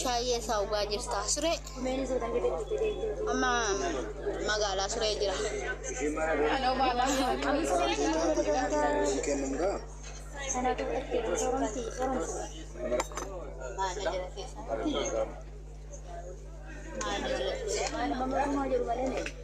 Shaayii eessaa dhugaa jirta? Suree. Amma magaalaa suree jira. Maal na jira keessa?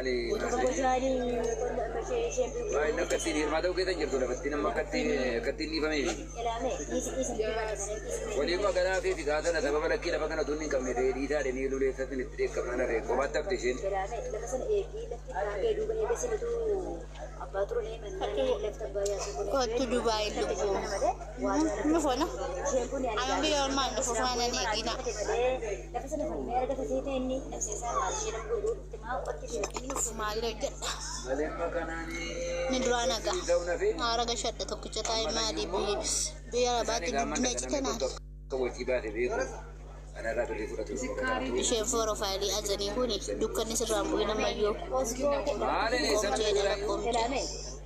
Ani Naasiriin waa'een akka ittiin hiirmaa ta'uu keessa hin jirtu lafa ittiin amma akka ittiin dhiifameefi. Waliiguma ganaa fi figaa sana sababa lakkii lafa kana utuu inni hin qabne ta'ee dhiisaa jedhanii luleessa sin itti dheekkamnaan hafe qobaatti hafte isheen. Kottu Dubaay lubbuu. Nufu no. Amma biyya ormaan nufu faana ni eegina. Inni of maallee hojjedha. Inni duraa naga. Haara gashadha tokkicha taa'ee maalii biyyi biyya labaatti guddina cite naan. Isheen foorofaayilii ajanii kuni dukkanni sirraan bu'in ammayyoo. Qoomjeedha lakkoomjee.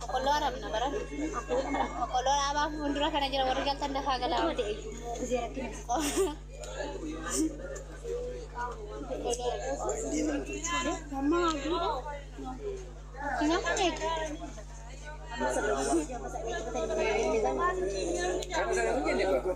Boqqolloo arabna bara. Boqqolloo dhaabaa fuuldura kana jira warri galtan dafaa galaa. Boqqolloo.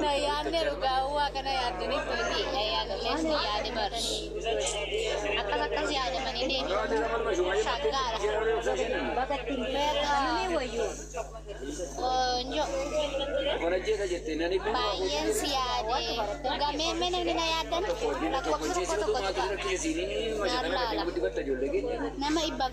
Na yaadne dhugaa waaqa na yaaddanii tooti. Na yaadnes ni yaade barsh. Akkas akkas yaadamanii deemu. Shaggaadha. Namni wayyu. Qoonjo. Baay'een si yaade. Dhugaa mee mee namni na yaaddan lakkoofsa tokko tokko tuqa. Naan laala. Nama dhibbaaf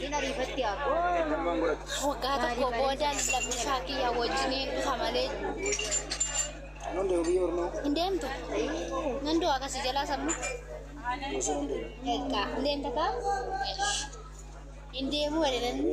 Hin ariifatti abo. Waggaa tokko booda lammisaa kiyya wajjiniin dhufa malee hin deemtu. Nan du'a akkasii jalaa sammu. Egaa hin deemta kaa? Hin deemuu jedhe namni.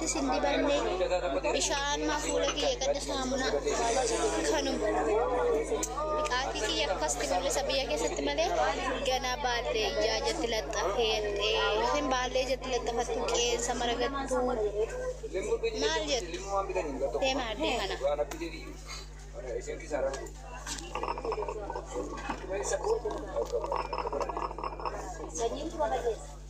Ittis hin dibanne bishaanuma fuula kiyya gadda saamunaa kanuma biqaatii kiyya akkasitti mul'isa biyya keessatti malee ganaa baallee ijaa jatti laxxafee yookiin baallee jatti laxxafattu qeensa maragattu maal jettu deema addee kana. Sanyiin kuma baay'eessa.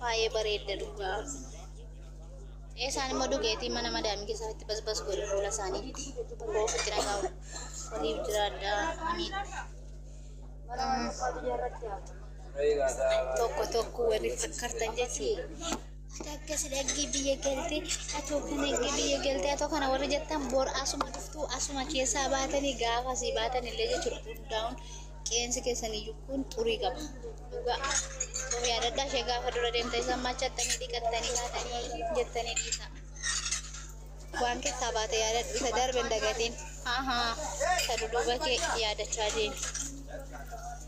Baay'ee bareedda dhugaa. Eesaan immoo dhugeetii mana madaamii keessatti basbas godhu fuula isaaniitti ofitti nagaa waliif jiraadhaa. Amiin. tokko tokko warri fakkartan jechuudha. Ati akkas dhaggii biyya galtee, ati hookan dhaggii biyya galtee, ati kana warri jettan bor asuma dhuftuu asuma keessaa baatanii gaafa asii baatan illee jechuudha hundaa'uun qeensi keessan iyyuu kun xurii qaba. Dhugaa of yaadadhaa ishee gaafa dura deemtee isaan machattanii dhiqattanii kaatanii jettanii dhiisaa. Waan keessaa baate yaadadhu isa darbe hin dagatiin. Haa haa isa duduuba kee yaadachaa deemi.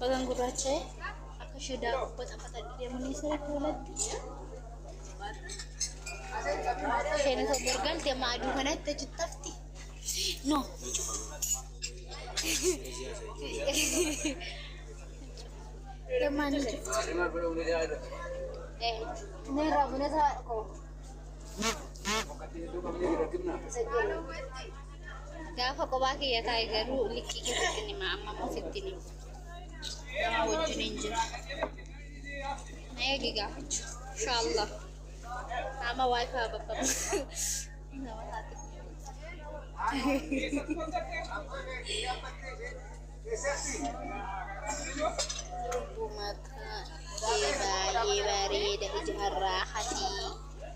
Bagan gurraacha'e akka ishee daakuu batafataa deemanii sirriitti walatti. Isheen isa borgalte amma aduu kanatti achi tafti. No. Deemaan ni jirti. Inni irraa bunee isaa dhaqoo. Isa jedhu. Gaafa qobaa kiyya taa'e garuu likkii keessatti hin hima amma immoo sitti hin hima. Nama wajjin hin jiru. Na eegi gaafachu. Inshaallah. Nama wifi bakka nama taate. Durbu maqaa kee baay'ee bareeda ija harraa hatii.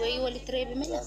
Wayii walitti reebime laa.